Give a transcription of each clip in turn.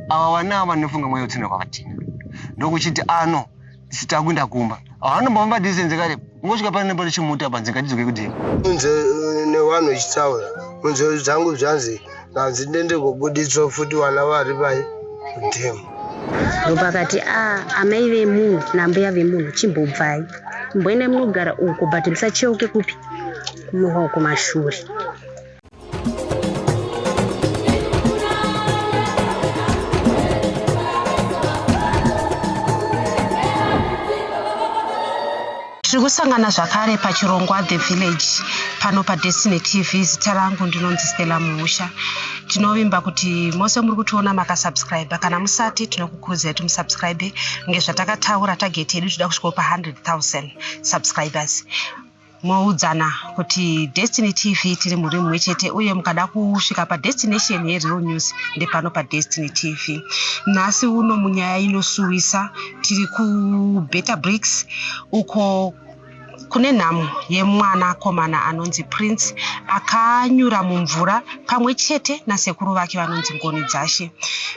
Ava vana ava vanofunga mweya utsina kwavatina. Ndokuchiti ano sita kuenda kumba. Havanomba vamba distance kare. Ngosvika pane nepari chimuta panzi ngatidzwe kudini. Unze eh, newanhu ichitsaura. Unze dzangu zvanzi nanzi ndende kuguditswa futi wana vari pai. Damn. Ndopakati a ah, amai vemunhu nambuya vemunhu chimbobvai. Mboenda munogara uko but musacheuke kupi. Kumuhwa kumashure. tiri kusangana zvakare pachirongwa the village pano padestiny tv zita rangu ndinonzi stella muusha tinovimba kuti mose muri kutiona makasubscribe kana musati tinokukurudzira kuti musubscribe ngezvatakataura tageti yedu tida kusvikopa 100 000 subscribers moudzana kuti destiny tv tiri muri mumwe chete uye mukada kusvika padestination yereal news ndepano padestiny tv nhasi uno munyaya inosuwisa tiri kubetter bricks uko kune nhamo yemwana komana anonzi prince akanyura mumvura pamwe chete nasekuru vake vanonzi ngoni dzashe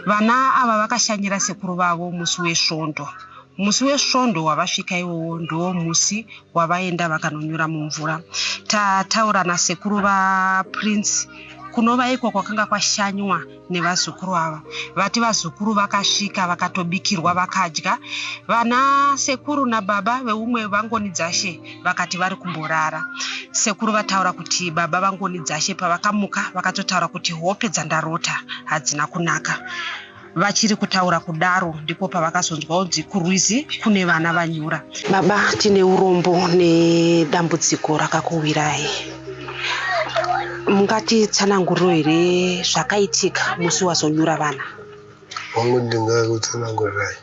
vana ava vakashanyira sekuru vavo musi wesvondo musi wesvondo wavasvika iwowo ndiwo musi wavaenda vakanonyura mumvura tataura nasekuru vaprince kunova iko kwakanga kwashanywa nevazukuru ava vati vazukuru vakasvika vakatobikirwa vakadya vana sekuru nababa veumwe vangoni dzashe vakati vari kumborara sekuru vataura kuti baba vangoni dzashe pavakamuka vakatotaura kuti hope dzandarota hadzina kunaka Vachiri kutaura kudaro ndipo pavakazonzwa kuti kurwizi kune vana vanyura. Baba, tine urombo nedambudziko rakakuwirai. Mungati tsananguriro here zvakaitika musi wazonyura vana? Hongu ndingakutsanangurirai.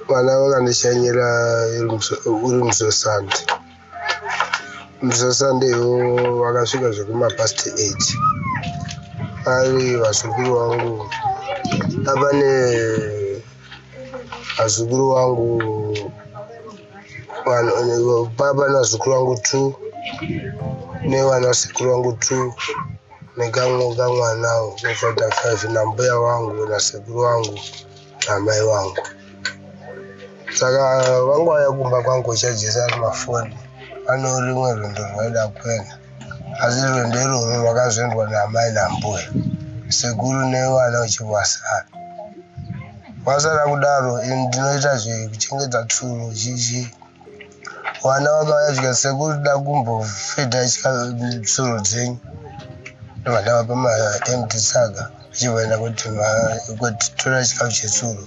Vana vakandishanyira uri musosandi. Msasandewo vakasvika zvekuma past 8 ari vazukuru vangu apane vazukuru vangu papa nazukuru vangu t nevanasekuru vangu t nekamwe kamwanawo kofata 5 nambuya vangu nasekuru vangu amai vangu saka vangu vaya kumba kwangu chajesa ari mafoni ane rimwe rwendo rwaida kuenda asi rwendo irworwo rwakazoendwa naamai nambuya sekuru nevana uchivasara vasara kudaro ini ndinoita zvekuchengeta tsuro zhizhii vana vakauya zvika sekuru da kumbofedha chika msoro dzenyu vana vapa maemti saka vachivaenda kuti kuti tora chikafu chesuro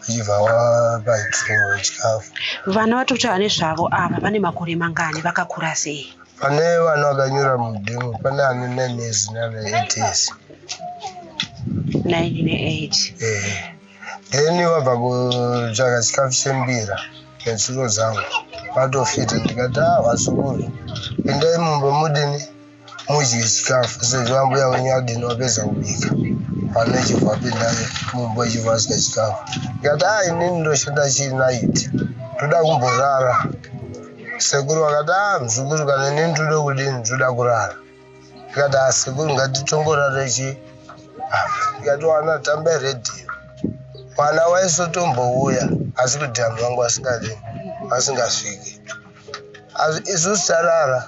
vachibva vapa suro chikafu vana vatiri kutaura nezvavo ava vane makore mangani vakakura sei pane vana vakanyura mudemo pane ane nine years nana eight years nine ne eight eh. then wabva kutsvaga chikafu chembira netsuro zangu vatofita ndikati a ah, vazukuru pindai mumba mudini mudye chikafu sezvo ambuya wenyu adini wapedza kubika pane chibva pindai mumba chibva adya chikafu ndikati a ah, inini ndoshanda chii naiti ndoda kumborara sekuru vakati a ah, mzukuru kana inini toda kudini toda kurara Tikati asekuru ngatitongorara ichi tikati wana tamba radio mwana waisotombouya asi kuti anhu vangu vasingadi vasingasviki asi isu sarara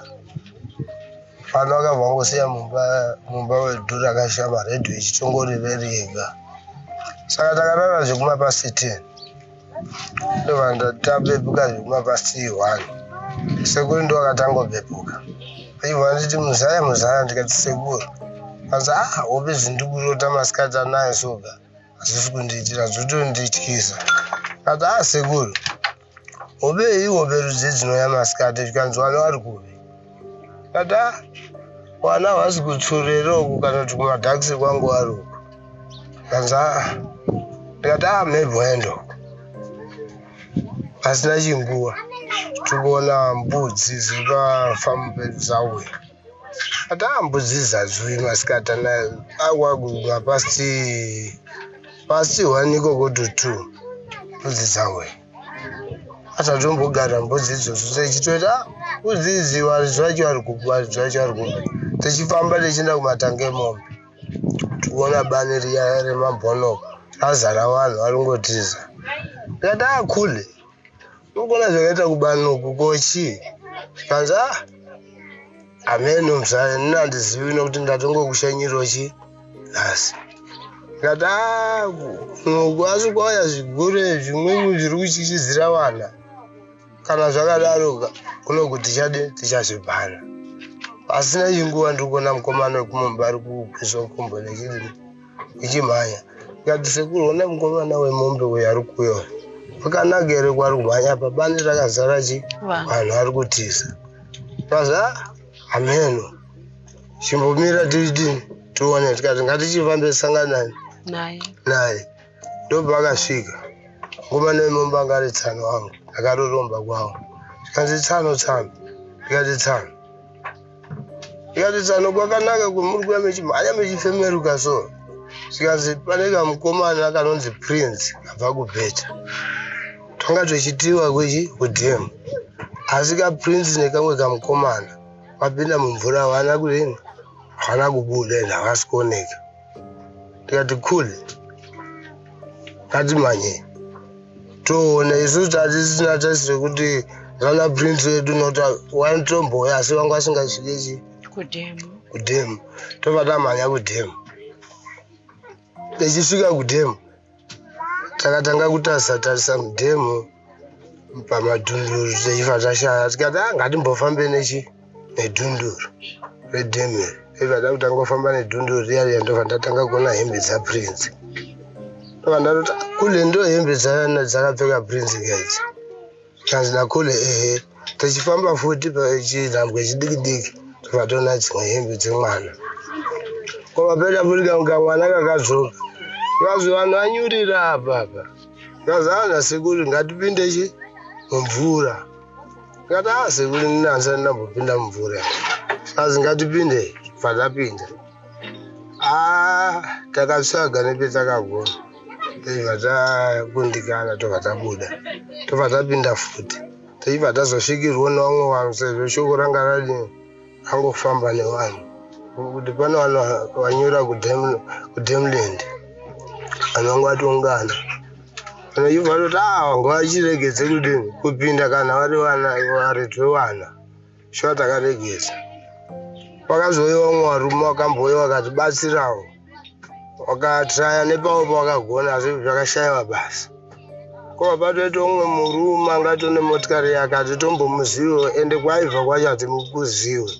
vanhu vakabva vangosiya mumba mumba wedu rakashama radio ichitongori reri yega saka takarara zvekumapasiteni ndovanga tabepuka zvekuma past one sekuru ndo akatangobepuka aibva anditi muzaya muzaya ndikati sekuru asi a ah, hope zindikurota masikati anayo soga hazvisi kundiitira zvotondityisa ati a ah, sekuru hope ihope rudzi dzinouya masikati zvikanzi vana vari kupi Ata wana hawasi kutsurera uku kana kuti kumadhakisi kwangu wari uku kanza ndikati a ah, mhebwendo pasina chinguva tikuona mbudzi dziri pafambo pedzauya ati a ah, mbudzi dzadzui masikati na akwaguma pasti pasti one ikoko to two mbudzi dzauya asatombogara mbudzi idzodzo techitoita kuzizi varidzi vacho vari kupi varidzi vacho vari kupi techifamba techienda kumatanga emombe tikuona bani riya remabhonoko razara vanhu vari kungotiza tikati a khule ukuona zvakaita kubani uku kochii zvikanzi a hameno mzaya nini handizivi nokuti ndatongokushanyiro chii nhasi ngataaku noko asi kwauya zvigure zvimweni zviri kutyisidzira vana kana zvakadaroka kuno kuti tichadi tichazvibhana pasina chinguva ndiri kuona mukomana wekumumba ari kukwizwa nkombo nechii ichimhanya ngati sekuru ona mukomana wemombe uyo ari kuyo akanaka here kwari kumhanya apa bani rakazara chi vanhu ari kutiza paza hameno chimbomira tidini tione tikati ngatichifambe sanganani naye naye ndobva akasvika ngoma nemomba ngari tsano wangu akaroromba kwawo zvikanzi tsano tsano ndikati tsano ndikati tsano kwakanaka kwemuri kuya mechimhanya mechifemeruka so zvikanzi pane kamukomana kanonzi prince kabva kubheta tanga twechitiwa kuchi kudem asi kaprince nekamwe kamukomana vapinda mumvura havana kudini havana kubuda and havasi kuoneka tikati cool ngatimanyei toona isu tatisina tasi rekuti vana prince vedu nota wanotomboya asi vanga vasingasvikechi kudhemu tobva tamhanya kudhemu Tichisvika kudhemu takatanga kutarisa tarisa mudhemu pamadhunduru teifa tashaya tikati ah, ngatimbofambe nechi nedhunduru redhemu iri iva takutanga kufamba nedhunduru riya riya ndobva ndatanga kuona hembe dzaprince ndobva ndatoti ah, kule ndo hembe dzakapfeka prince gaidzi Chanzi Dakune ehe tichifamba futi pachidhambwe chidiki diki tobva toona dzimwe hembe dzemwana kwava peda burika kunga mwana kakadzoka vazi vanhu vanyurira apa apa vazi ana sekuru ngatipinde chi mumvura ngati a ah, sekuru ndinanzi andinambopinda mumvura vazi ngatipinde patapinda Ah, takatsvaga nepetakagona tobva takundikana tobva tabuda tobva tapinda futi tichibva tazosvikirwa nevamwe vanhu sezvo shoko ranga radi angofamba nevanhu kuti pane vanhu vanyura kudemland vanhu vanga vatongana vanoibva toti a ah, vanga vachiregedze kudini kupinda kana vari vana varetwe vana shuwa takaregesa wakazouyewa umwe warume wakambouya wakatibatsirawo wakatraya nepawo pawakagona asi zvakashayiwa basa kwava patoita umwe murume anga tone motikari yake atitombomuzivo ende kwaibva kwacho hatimukuziwe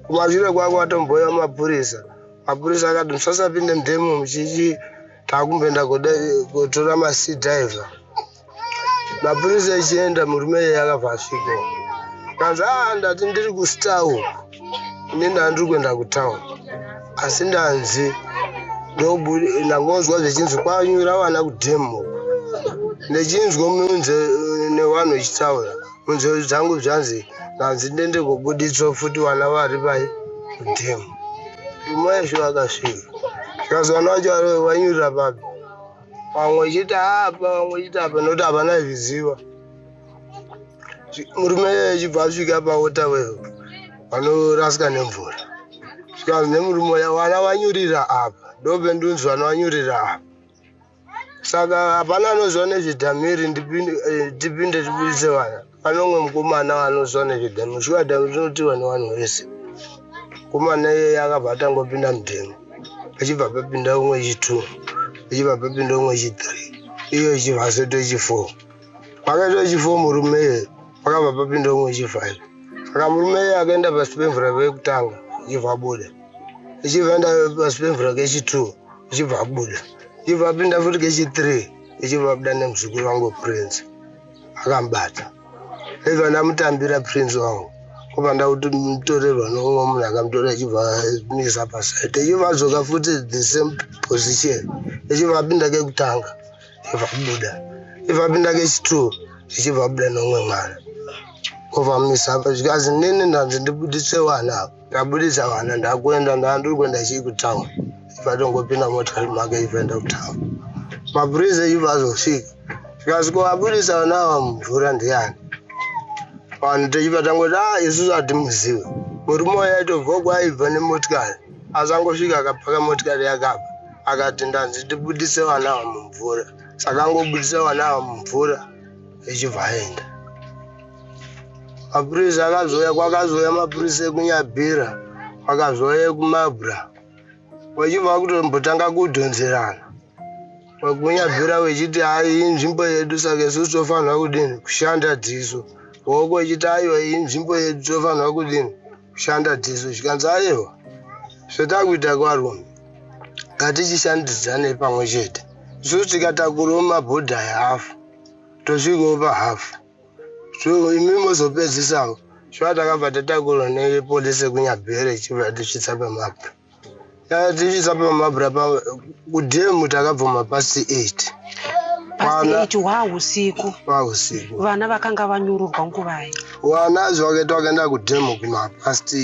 kumashure kwako watomboya mapurisa mapurisa akati musasapinde mdemo muchichi takumboenda kotora masidiver mapurisa echienda murume iye akabva asviko kanzi aa ndati ndiri kustar uku ini ndandiri kuenda kutown asi ndanzi ndangonzwa zvechinzi kwanyura vana kudem uku ndechinzwa munze nevanhu vechitaura munzvero dzangu zvanzi ndanzi ndende kobuditswa futi vana vari pai kudem umwe yesho akasvika zvikazi vana vacho vanyurira papi vamwe vachiti apa vamwe vachiti apa nokuti havana zviziva murume achibva asvika paota wevo vanorasika nemvura zvikanzi nemurume ya vana vanyurira apa ndobe ndunzi vana vanyurira apa saka hapana anoziva nezvedhamiri ndipinde eh, tibuise vana pane umwe mukomana anozwa nezvedhame shuwa dhame rinotiwa nevanhu vese mukomana iyeye akabva atangopinda mudhame achibva papinda umwe chitwo achibva papinda umwe chithree iyo ichibva asoita chifour pakaita chifour murume iyeye pakabva papinda umwe chifive saka murume iyeye akaenda pasi pemvura vekutanga ichibva abuda ichibva enda pasi pemvura kechitwo ichibva abuda ichibva apinda futi kechithree ichibva abuda nemuzukuru vangu prince akamubata ive andamutambira prince wangu kuva ndakuti mutorerwa nomumwe munhu akamutora achibva misa pasaite ichibva adzoka futi the same position ichibva apinda kekutanga ichibva kubuda ichibva apinda kechitoo ichibva abuda nomumwe mwana ovamisa apa zvikazi nini ndanzi ndibudise wana apa ndabudisa vana ndakuenda ndandiri kuenda chii kutown ivatongopinda motikari make ivaenda kutown mapurisa ivo azosvika zvikasviko vabudisa vana ava mumvura ndiyani vanhu techiva tangoti a ah, isusu hatimuzive murume uya aitobva kwaibva nemotikari asangosvika akapaka motikari yakabva akati ndanzi ndibudise vana ava mumvura saka angobudisa vana ava mumvura ichibva aenda mapurisa akazouya kwakazouya mapurisa ekunyabhira kwakazouya ekumabra vachibva kutombotanga kudhonzerana vakunyabvira vechiti hai inzvimbo yedu saka isusu tofanira kudini kushanda dziso hoko vechiti aiwa inzvimbo yedu tofanira kudini kushanda dziso zvikanzi aiwa zvatakuita kwarume ngatichishandidzane pamwe chete isusu tikatakurawo mabhodha ehafu tosvikawo pahafu imi mozopedzisa shuwa takabva tatakurwa nepolisi yekunyabhere ichibva yatisvitsa pamabra yatisvitsa pamabra kudhemu takabvuma pasi 8 pasi wahusiku wahusiku vana vakanga vanyururwa nguvai vana zvakaita vakaenda kudhemu kumapasti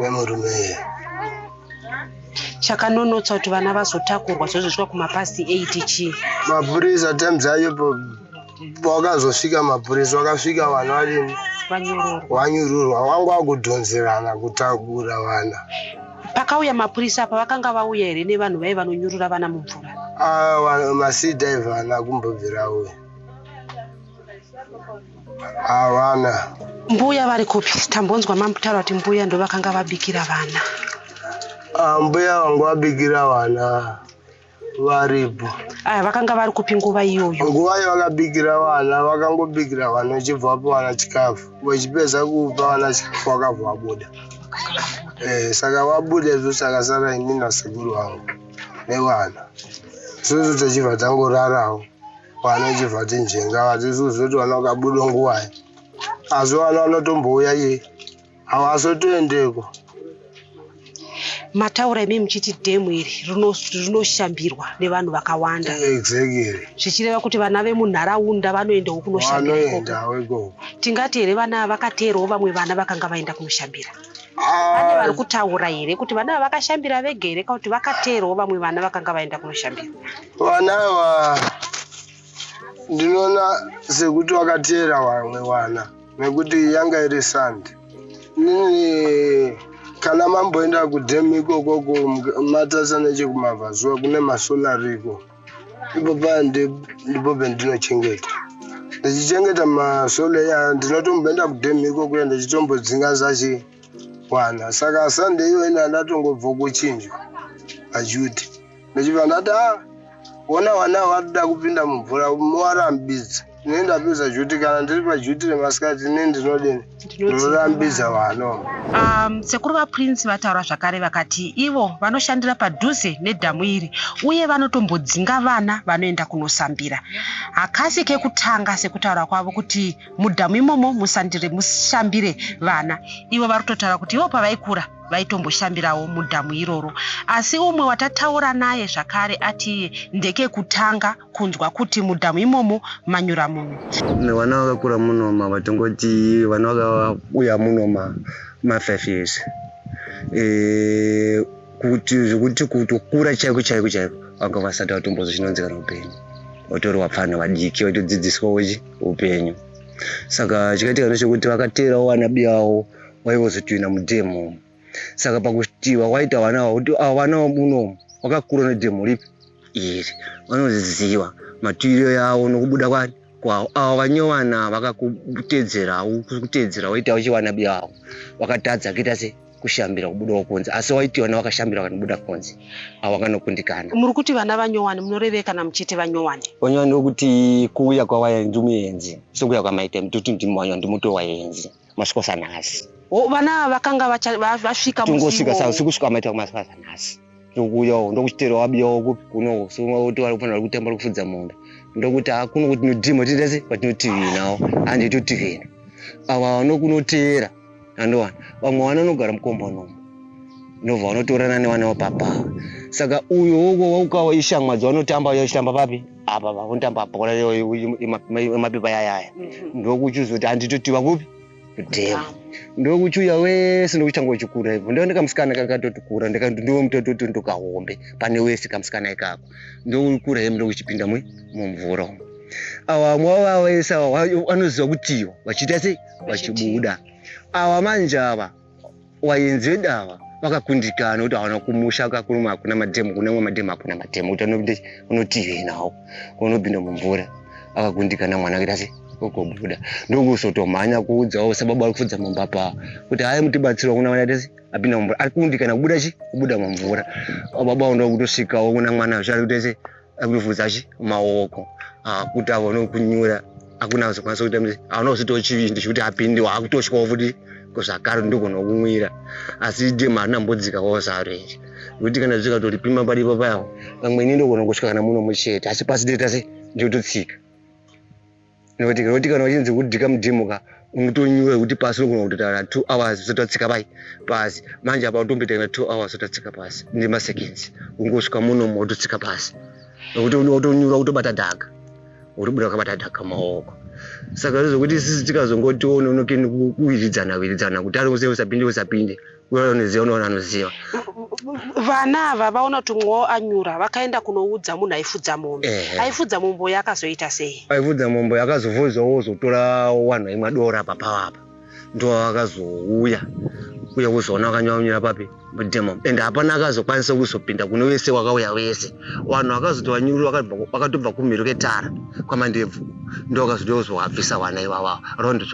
wemurume iye chakanonotsa kuti vana vazotakurwa zvozosvika kumapasti 8 chii mapurisa times ayo wakazosvika mapurisa wakasvika vana vadini wanyururwa wanga wakudhonzerana kutakura vana pakauya mapurisa apa vakanga vauya here nevanhu vaive vanonyurura vana mumvura ah, masii daiva ana kumbobvira uya havana mbuya vari kupi tambonzwa mamutaro ati mbuya ndo vakanga vabikira vana ah, mbuya vangu vabikira vana varipo aya vakanga vari kupi nguva iyoyo nguva iyo vakabikira vana vakangobikira vana vachibva vapa vana chikafu vachipedza kupa vana chikafu vakabva vabuda eh, saka vabuda izvo sakasara ini nasekuru vangu nevana isusu tichibva tangorarawo Pane chibva tinjenga vazvizuzvi kuti vana vakabuda nguvai. Asi vana vanotombouya iye. Havasotoendeko. Mataura imi muchiti dhemu iri rinoshambirwa nevanhu vakawanda. Exactly. Zvichireva kuti vana vemunharaunda vanoendawo kunoshambira ikoko. Vanoendawo ikoko. Tingati here vana vakateerawo vamwe vana vakanga vaenda kunoshambira. pane vari kutaura here kuti vana ava vakashambira vega here kana kuti vakateerwa vamwe vana vakanga vaenda kunoshambira vana ava ndinoona sekuti vakateera vamwe vana nekuti yanga iri sande nini kana mamboenda kudhemu ikokoko matasa nechekumabvazuva kune masolariko ipapa ndipo pendinochengeta ndichichengeta masolo iya ndinotomboenda kudhemu ikokuya ndechitombodzinga zachi kwana saka sunday iyo ina ndatongobva kuchinjwa ajuti ndichibva ndati a ona wana watoda kupinda mumvura mowarambidza ne ndapedza juti kana ndiri pajuti remasikati ne ndinodini ndinorambidza vano um, sekuru vaprince vataura zvakare vakati ivo vanoshandira padhuze nedhamu iri uye vanotombodzinga vana vanoenda kunosambira hakasi kekutanga sekutaura kwavo kuti mudhamu imomo musandire mushambire vana ivo vari kutotaura kuti ivo pavaikura vaitomboshambirawo mudhamu iroro asi umwe watataura naye zvakare ati ndekekutanga kunzwa kuti mudhamu imomo manyura munhu vana vakakura munoma vatongoti vana vakauya munoma mafive years eh, kuti zvekuti kutokura chaiko chaiko chaiko vanga vasati vatombozo chinonzikana upenyu vatori vapfana vadiki vaitodzidziswa wechi upenyu saka chikaitika nechekuti vakateerawo vana biyavo vaivozotoina mudhemu saka pakuti wakaita vana ava kuti ava vana vamunomu wakakura nedemo ripi iri vanoziva matiriro yavo nokubuda kwani kwavo avo vanyovana vakakutedzera kutedzera waita uchivana biya vavo vakatadza kuita se kushambira kubudawo kunze asi waitiona wakashambira vakanobuda kunze avo vakanokundikana muri kuti vana vanyowani munorevei kana muchiti vanyowani vanyowani vokuti kuuya kwavaenzi muenzi sokuya kwamaita mituti ndimwanya ndimuto waenzi masvikosa nhasi vana ava vakanga vasvika tongosvika sa sikusvika vamaita kumasvikosa nhasi ndokuuyawo ndokuchitera wabiyawo kupi kuno so oti vari kufanira kutamba rikufudza mondo ndokuti hakuno kuti nodhima tindese patinotivhinawo handi totivhina ava vanokunoteera andowana vamwe vana vanogara mukombanomo ndobva vanotorana nevana vapapa saka uyo woko waukawa ishamwa dzavanotamba yachitamba papi apa vakunditamba bhora yemapepa yayaya mhm. ndokuchuza kuti handitotiwa kupi kudhema ndokuchuya wese ndokuchanga uchikura ipo ndoo ndikamusikana kakatotikura ndomutototi ndokahombe pane wese kamusikana ikako ndokukura hemu ndokuchipinda mwe mumvura umu awa mwava wese awa anoziva kutiwa vachiita sei vachibuda awa manje ava wayenzi vedawa vakakundikana kuti hawana kumusha kakurume hakuna madhemu kune mwe madhemu hakuna madhemu kuti anokuti unotivi nawo unopinda mumvura akakundikana mwana kuita se okobuda ndokuzotomhanya kuudzawo sababa ari kufudza mumba paa kuti hayi mutibatsirwa kuna mwana tese apinda mumvura ari kundikana kubuda chi kubuda mumvura baba ndo kutosvikawo kuna mwana zvati kutese akuvhudza chi maoko akuti avone kunyura akuna kuzokwanisa kuita mse aona kuzvitawo chivindi chekuti apinde waakutosvikawo futi kuzvakare ndogona kumwira asi dem harina mbodzikawo zaro iri kuti kana zvikatoripima padipo payawo pamwe ini ndogona kusvika kana muno muchete asi pasi deta se ndiototsika nekuti nekuti kana uchinzi kudhika mudhimo ka unotonyura kuti pasi unogona kutotaura two hours usati watsika pai pasi manje apa utomboita two hours usati watsika pasi nemaseconds ungosvika munomo wototsika pasi nekuti utonyura kutobata dhaga uribuda wakabata dhaga maoko saka zvezvokuti sisi tikazongotiona unokeni kuwiridzana wiridzana kuti ari usapinde usapinde unoniziva unoona anoziva vana ava vaona kuti mumwe wavo anyura vakaenda kunoudza munhu aifudza mombe Ehe. aifudza mombe uyo akazoita sei aivudza mombe akazovozwa wozotora wanhu aimwa dora apa pavo apa ndo akazouya uye kuzoona wakanyaunyira papi mudemo and hapana akazokwanisa kuzopinda kune wese wakauya wese wanhu wakazoti wanyuru wakatobva kumhiri ketara kwamandebvu ndo wakazodeozowabvisa wana iwawa rondo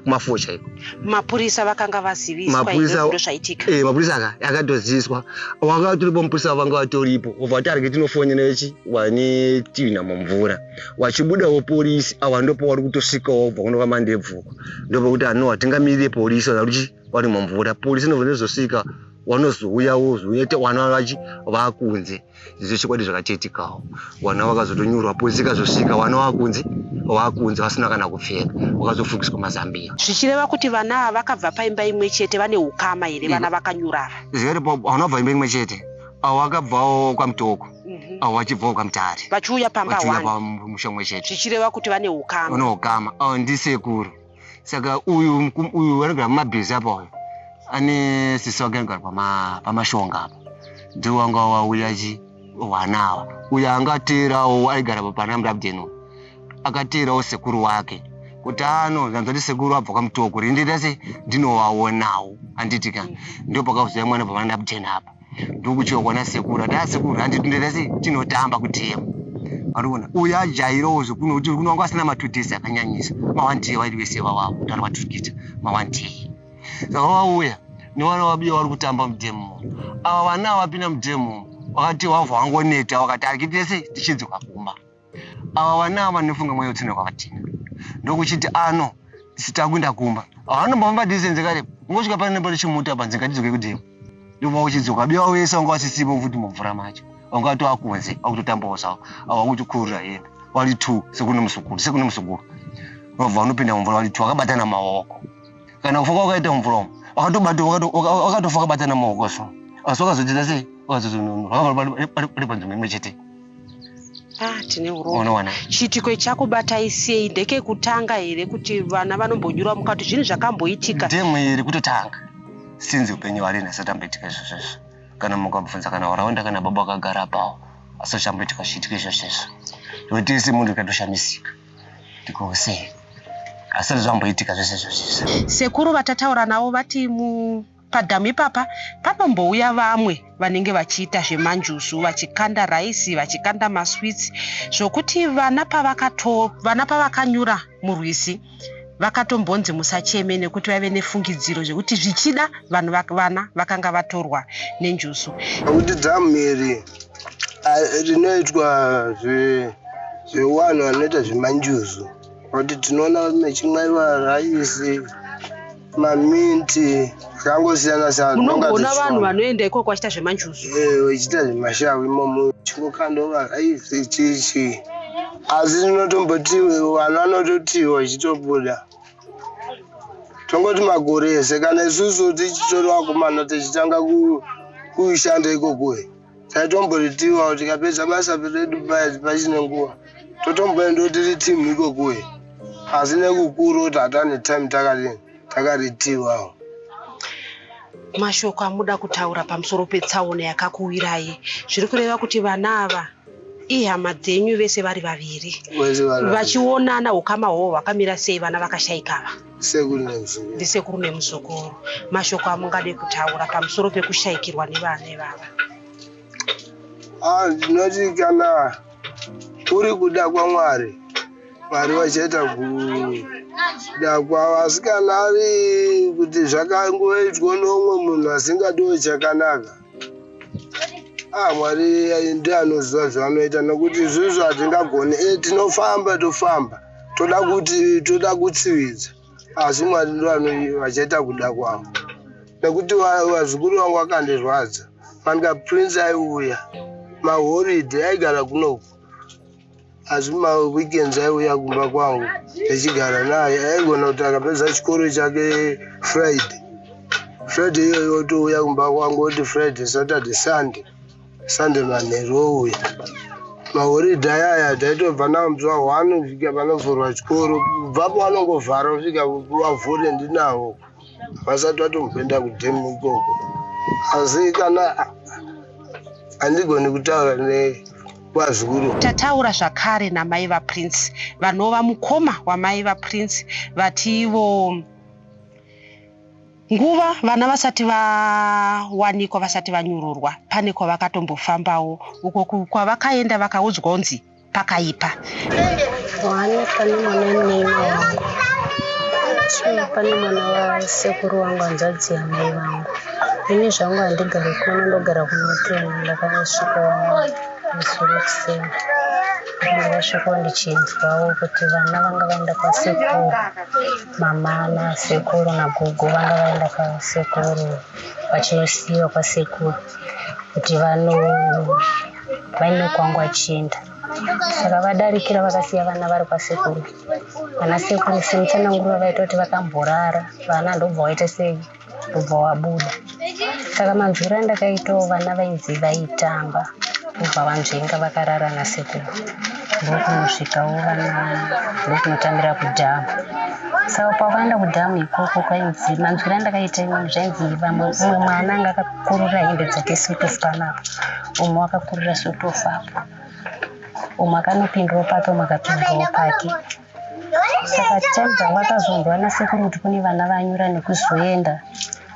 kumafuo chaiko mapurisa vakanga vaziviswaizvaitika eh, mapurisa aka akatoziviswa wanga vatoripo mupurisa wavanga vatoripo obva wati arike tinofonera chi wane tivina mumvura wachibudawo polisi awa ndopo wari kutosvikawo bva kuno kwamandebvuko ndopokuti anowa tingamirire polisi wanaruchi vari mumvura polisi inozosvika wanozouya wozouya te wana vachi vakunze izvo chokwadi zvakachetikawo wana vakazotonyorwa polisi ikazosvika wana vakunze vakunze vasina kana kupfeka vakazofugiswa mazambiya zvichireva kuti vana ava vakabva paimba imwe chete vane ukama here vana vakanyurava zviri vana vabva imba imwe chete avo vakabvawo kwamutoko mhm. avo vachibvawo kwamutare vachiuya pamba vachiuya pamusha umwe chete zvichireva kuti vane ukama vane ukama avo ndisekuru saka uyu uyu anogara mumabhizi apa uyu ane sisi wake anogara pamashonga apa ndiwo anga wauya chi hwana awa uyo anga ateerawo aigara pana mrabdeno akateerawo sekuru wake kuti ano zvanzati sekuru abva kwamutoko rindita se ndinowaonawo handiti ka mm. ndopakazoya mwana pamana mrabdeno apa ndokutyiwa kuona sekuru ati asekuru ah, handi tinde tese tinotamba kudhemu ariona uyo ajairawo zvekuno kuti kuno wanga asina matudhesi akanyanyisa mawantie wairi wese wawawo kuti ari maturikita mawantie saka wauya newana wabiya wari kutamba mudhemu ava vana wapinda mudhemu wakati wavha wangoneta wakati akitese tichidzoka kumba Ava vana ava vanofunga mweya utsina kwavatina ndokuchiti ano sitakuinda kumba havanombomba distance kare ungosvika pane nepari chimuta panzi ngatidzoke kudemo ndova uchidzoka biwa wese wanga wasisipo futi mumvura macho wanga watova kunze akutotambawo zvawo ava kutokurira hembe wari two sekune musukuru sekune musukuru vabva vanopinda mumvura wari two akabatana maoko kana kufoka wakaita mumvura umu wakatofa kabatana maoko so asi wakazodzidza sei wakazozonono vakavara pari panzvimbo imwe chete Ah, tine urono unowana chiitiko ichakubata isei ndekekutanga here kuti vana vanombonyura mukati zvinhu zvakamboitika ndemwe iri kutotanga sinzi upenyu hwari nhasi atamboitika izvozvo izvo kana mukabvunza kana waraunda kana baba akagara apawo asi uchamboitika chiitiko izvozvo izvo iwe tese munhu ikatoshamisika ndikousei asati zvamboitika zvese izvozvo izvo sekuru vatataura navo vati mu Padhamu ipapa panombouya vamwe vanenge vachiita zvemanjuzu vachikanda raisi vachikanda maswitsi zvokuti vana pavakato vana pavakanyura murwizi vakatombonzi musacheme nekuti vaive nefungidziro zvekuti zvichida vanhu vak- vana vakanga vatorwa nenjuzu nokuti dhamu iri ah, rinoitwa zve- zvewanhu vanoita zvemanjuzu kuti tinoona mechimwaiwa raisi maminti zvangosiyana siyana munogona vanhu vanoenda ikoko vachiita zvemanjuzu vachiita eh, zvemashavu imomo chingokandova aive chichi asi tinotomboti vanhu vanototiwa chitobuda tongoti makore ese kana isusu tichitora vakomana tichitanga kushanda ikokoi taitomboritiwa tikapedza basa redu pachine nguva totomboendawo tiri team ikokuye asi nekukuru kuti hatane time takaritiwawo mashoko amuda kutaura pamusoro petsaona yakakuwirai zviri kureva kuti vana ava ihama dzenyu vese vari vaviri vachionana ukama hwohwo hwakamira sei vana vakashaikava Sekuru nemuzukuru. Ndisekuru nemuzukuru. Mashoko amungade kutaura pamusoro pekushaikirwa nevana ivava. Ah, ndinoti kana kuri kuda kwaMwari, Mwari vachaita kuda kwavo. Asi kana ari kuti zvakangoitwa nomwe munhu asingadiwo chakanaka, ah, Mwari ndiye anoziva zvavanoita nokuti izvozvo hatingagoni. Eh, tinofamba tofamba. toda kuti toda kutsividza asi mwari ndo vachaita kuda kwavo nekuti vazukuru vangu vakandizvadza manika prince aiuya mahoride aigara kunoku asi maweekends aiuya kumba kwangu ndichigara naye aigona kuti akapedza chikoro chake friday friday iyoyo otouya kumba kwangu oti friday saturday sunday Sunday manheru uye mahoridhe aya aya taitobva nawo mzuva hwano kusvika panovhurwa chikoro kubvapo vanongovhara kusvika vavhure ndinawo vasati vatomboenda kudhemu ikoko asi kana handigoni kutaura nekwazukuru tataura zvakare namai vaprince vanova mukoma wamai vaprince vati ivo Nguva vana vasati vawanikwa vasati vanyururwa pane kwavakatombofambawo uko kwavakaenda vakaudzwa unzi pakaipa. Wawanikwa nemwana neni wangu chii pane mwana wasekuru wangu hanzvadzi yamai vangu ini zvangu handigari kuno ndogara kunoteni ndakasvika musoro kuseni ndakasvikawo ndichinzwawo kuti vana vanga vaenda kwasekuru Mama nasekuru nagogo vanga vaenda kwasekuru vachinosiiwa kwasekuru kuti vaine kwangu vachienda saka vadarikira vakasiya vana vari kwasekuru vana sekuru semutsananguro vavaita kuti vakamborara vana ndobva vaita sei kubva wabuda saka manzwiro andakaitawo vana vainzi vaitamba kubva vanzvenga vakarara nasekuru ndokunosvikawo vana ndokunotambira kudhamu saka pavakaenda kudhamu ikoko kwainzi manzwiro andakaita imweni zvainzi vamwe umwe mwana anga akakurira hembe dzake sutofu panapo umwe wakakurira sutofu apo umwe akanopindwa pake umwe akapindwawo pake saka time dzangu akazondwa nasekuru kuti kune vana vanyura nekuzoenda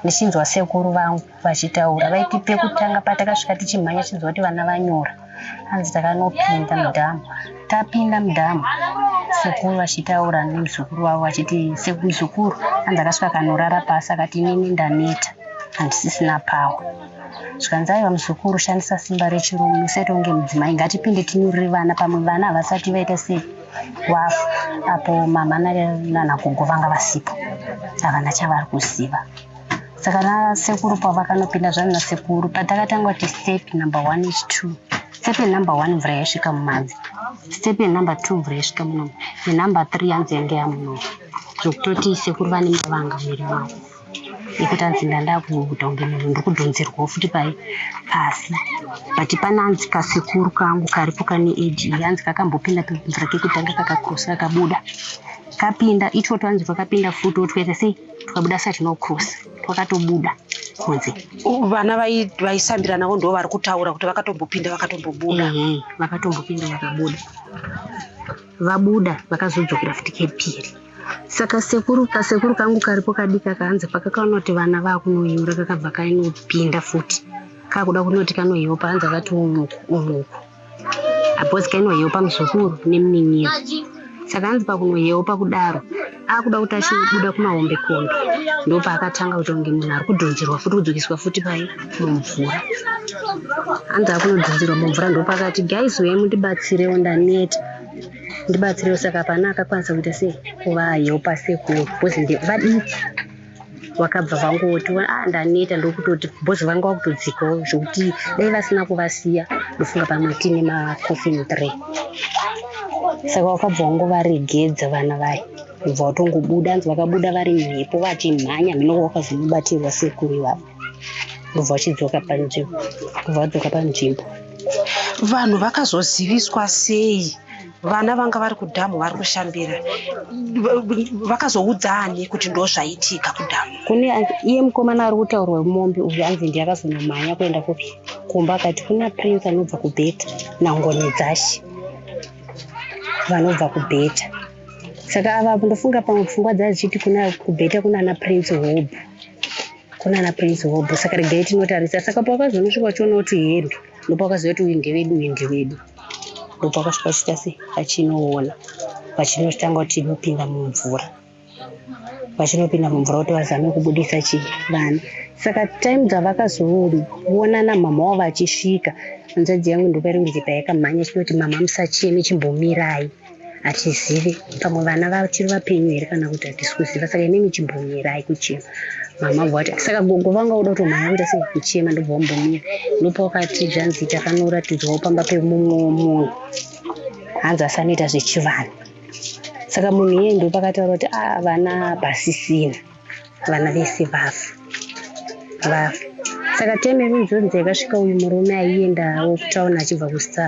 ndichinzwa sekuru vangu vachitaura vaiti pekutanga patakasvika tichimhanya chinzwa kuti vana vanyura hanzi takanopinda mudhamu tapinda mudhamu sekuru vachitaura nemuzukuru wavo vachiti sekumuzukuru hanzi akasvika kanorara pasi akati inini ndaneta handisisina pawa zvikanzi aiva muzukuru shandisa simba rechirume usaita kunge mudzimai ngatipinde tinyurire vana pamwe vana havasati vaita sei wafu apo mama nanagogo vanga vasipo havana chavari kuziva saka nasekuru pavakanopinda zvani nasekuru patakatanga kuti step number one is two step yenumber one mvura yaisvika mumadzi step yenumber two mvura yaisvika munomo yenumber three yanzi yange yamunomo zvokutoti sekuru vane mavanga muviri mavo yekuti anzi ndandakuita kunge munhu ndiri kudhonzerwawo futi pai pasi but pane anzi kasekuru kangu karipo kane age iyi anzi kakambopinda kemvura kekutanga kakakrosa kakabuda kapinda itwo twanzi twakapinda futi otwete sei twakabuda sa tinokrosa twakatobuda kunze vana vaisambiranavo ndo vari kutaura kuti vakatombopinda vakatombobuda mhm, vakatombopinda vakabuda mm -hmm. Vabuda vakazodzokera futi kepiri. Saka sekuru kasekuru kangu karipo kadika kanzi pakakaona kuti vana vakunoyura kakabva kainopinda futi kakuda kunoti kanoyiwa panzi akati umuku umuku apozi kainoyewa pamuzukuru nemuninira saka hanzi pakunoyewa pakudaro akuda kuti achibuda kumahombe kombe ndopaakatanga kuita kunge munhu ari kudhonzerwa futi kudzokiswa futi pai mumvura anzi akunodhonzerwa mumvura ndopaakati guys uyai mundibatsirewo ndaneta ndibatsirewo saka pana akakwanisa kuita sei kuvahelpa sekuru bcause vadiki vakabva vangoti ah, ndaneta ndokutoti bhozi vanga vakutodzikawo zvekuti dai vasina kuvasiya ndofunga pamwe tiine macoffin three saka vakabva wangovaregedza vana vaya bva vatongobuda anzi vakabuda vari mhepo vachimhanya mhinoko vakazomubatirwa sekuru ivavo ndobva vachidzoka panzvimbo kubva vadzoka panzvimbo vanhu vakazoziviswa sei vana vanga vari kudhamu vari kushambira vakazoudza ani kuti ndo zvaitika kudhamu kune iye mukomana ari kutaurwa wemombe uyu anzi ndi akazonomhanya kuenda kupi kumba akati kuna prince anobva kubheta nangoni dzashe vanobva kubheta saka ava ndofunga pamwe pfungwa dzazichiti kuna kubheta kuna ana prince hob kuna ana prince hob saka regai tinotarisa saka pawakazonosvika uchiona kuti hendo ndopawakaziva kuti uyu ndewedu uyu ndewedu ndopakasvika chita sei pachinoona pachinotanga kuti inopinda mumvura vachinopinda mumvura kuti vazame kubudisa chii vana saka time dzavakazoonana mama wavo vachisvika hanzvadzi yangu ndopairi kunzi payakamhanya chinoti mama musacheme chimbomirai hatizivi pamwe vana vachiri vapenyu here kana kuti hatisi kuziva saka inenge chimbomirai kuchema mama bva vati saka gogo vanga uda kutomhanya kuita sei kuchema ndobva wambomira ndopawakati zvanzi takanoratidzwawo pamba pemumwe munhu hanzi asanoita zvechivanhu saka munhu iyeye ndopakataura kuti a ah, vana basisina vana vese vafa vafa saka time yekunzonzi yakasvika uyu murume aiendawo kutauni achibva kusta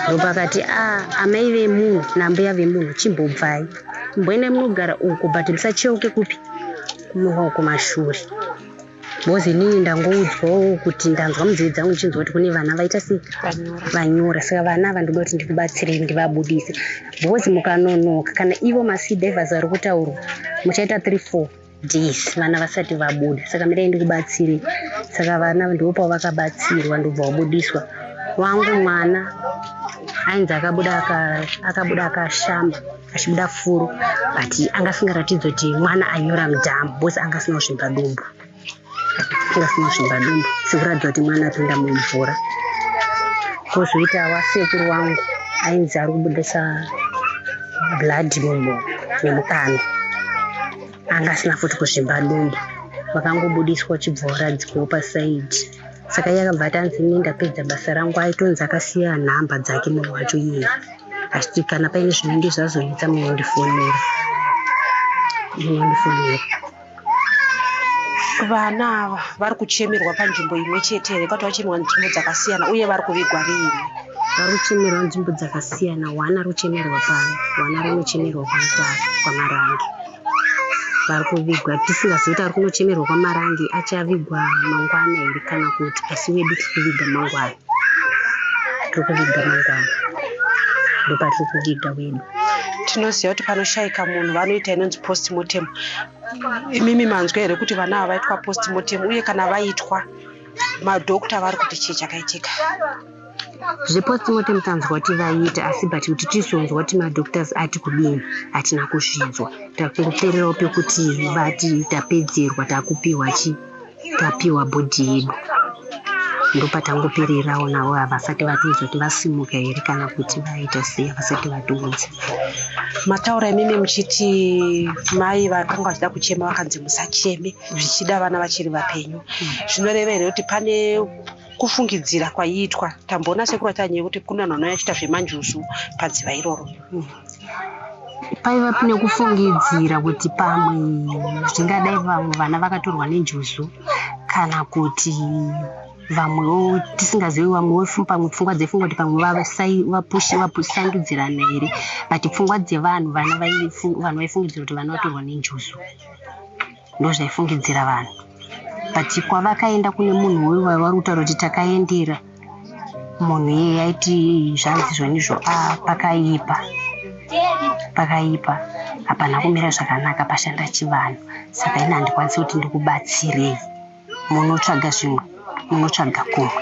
ndopakati a ah, amai vemunhu nambuya vemunhu chimbobvai mboenda munogara uku but musacheuke kupi kumuka kumashure bcoz inini ndangoudzwawo kuti ndanzwa mudzivi dzangu ndichinzwa kuti kune vana vaita sei vanyora saka vana ava ndoda kuti ndikubatsirei ndivabudise because mukanonoka kana ivo masea divers vari kutaurwa muchaita three four days vana vasati vabuda saka mirai ndikubatsire saka vana ndivo pavo vakabatsirwa ndobva wabudiswa wangu mwana ainzi akabuda akabuda akashamba achibuda furu but anga asingaratidzi kuti mwana anyora mudhamu bcause anga asina kuzvimba dumbu Kira sina shumba dumbu sikuratidza kuti mwana apinda mumvura kozoita wasekuru wangu ainzi ari kubudisa blood mumbo nemukano anga asina futi kuzvimba dumbu vakangobudiswa chibva waradzikwawo pasaidi saka iye akabva atanzi ini ndapedza basa rangu aitonzi akasiya nhamba dzake munhu wacho iye achiti kana paine zvinenge zvazonetsa munondifonera munondifonera Vana ava vari kuchemerwa panzvimbo imwe chete here kwati vachemerwa nzvimbo dzakasiyana uye vari kuvigwa riini? Vari kuchemerwa nzvimbo dzakasiyana. One ari kuchemerwa pano, one ari kunochemerwa kwaMutare, kwaMarange. Vari kuvigwa tisingazivi kuti ari kunochemerwa kwaMarange achavigwa mangwana here kana kuti asi wedu tiri kuviga mangwana. tiri kuviga mangwana ndopatiri kuviga wenu tinoziva kuti panoshaika munhu vanoita inonzi postmortem imimi manzwa here kuti vana ava vaitwa postmortem uye kana vaitwa madokta vari kuti chii chakaitika zvepostmortem tanzwa kuti vaiita asi but kuti tizonzwa kuti madoctors ati kudini hatina kuzvinzwa takupererawo pekuti vati tapedzerwa takupiwa chii tapiwa bhodhi yedu ndopatangopererawo navo havasati vatiudza kuti vasimuka here kana kuti vaita sei havasati vatiudza mataura imimi muchiti mai vakanga vachida kuchema vakanzi musacheme zvichida vana vachiri vapenyu zvinoreva here kuti pane kufungidzira kwaiitwa tamboona sekuru achanyaya kuti kuna nhano yachiita zvemanjuzu padziva iroro hmm. paiva pine kufungidzira kuti pamwe zvingadai vamwe vana vakatorwa nenjuzu kana kuti vamwewo tisingazivi vamwewo pamwe pfungwa dzepfungwa kuti pamwe vapusangidzirana here but pfungwa dzevanhu vana vanhu vaifungidzira kuti vana vatorwa nenjuzu ndozvaifungidzira vanhu but kwavakaenda kune munhu uyu waivari kutaura kuti takaendera munhu iye yaiti zvanzi zvonizvo a ah, pakaipa pakaipa hapana kumira zvakanaka pashanda chivanhu saka ini handikwanisi kuti ndikubatsirei munotsvaga zvimwe munotsvaga kumwe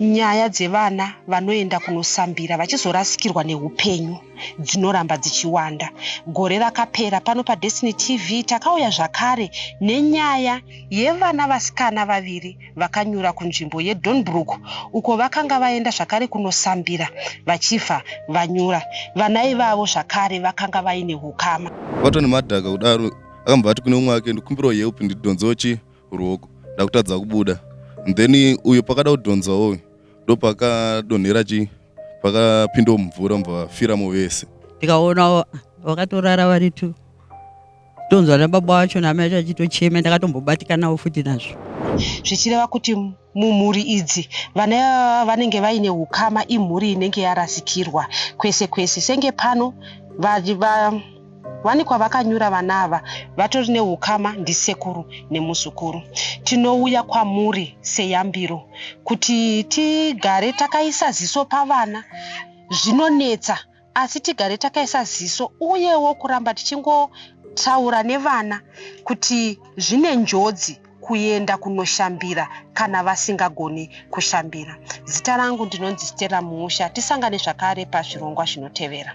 Nyaya dzevana vanoenda kunosambira vachizorasikirwa nehupenyu dzinoramba dzichiwanda. Gore rakapera pano paDestiny TV takauya zvakare nenyaya yevana vasikana vaviri vakanyura kunzvimbo yeDornbrook uko vakanga vaenda zvakare kunosambira vachibva vanyura. Vana ivavo zvakare vakanga vaine hukama. Vatwa nemadhaka kudaro akambva ati kune umwe wake ndikumbirawo help ndidhonzochi ruoko ndakutadza kubuda then uyo pakada kudhonzawo uyu ndopakadonhera chii pakapindawo mumvura muvafiramo vese ndikaona vakatorara vari two tonzwa nababa wacho namai vacho vachitochema ndakatombobatikanawo futi nazvo zvichireva kuti Mumhuri idzi, vana ivava vanenge vaine ukama imhuri inenge yarasikirwa kwese kwese. Senge pano, vawanikwa vakanyura vana ava vatori neukama ndisekuru nemuzukuru. Tinouya kwamuri seyambiro kuti tigare takaisa ziso pavana. Zvinonetsa asi tigare takaisa ziso uyewo kuramba tichingotaura nevana kuti zvine njodzi kuenda kunoshambira kana vasingagoni kushambira zita rangu ndinonzi stera mumusha tisangane zvakare pazvirongwa zvinotevera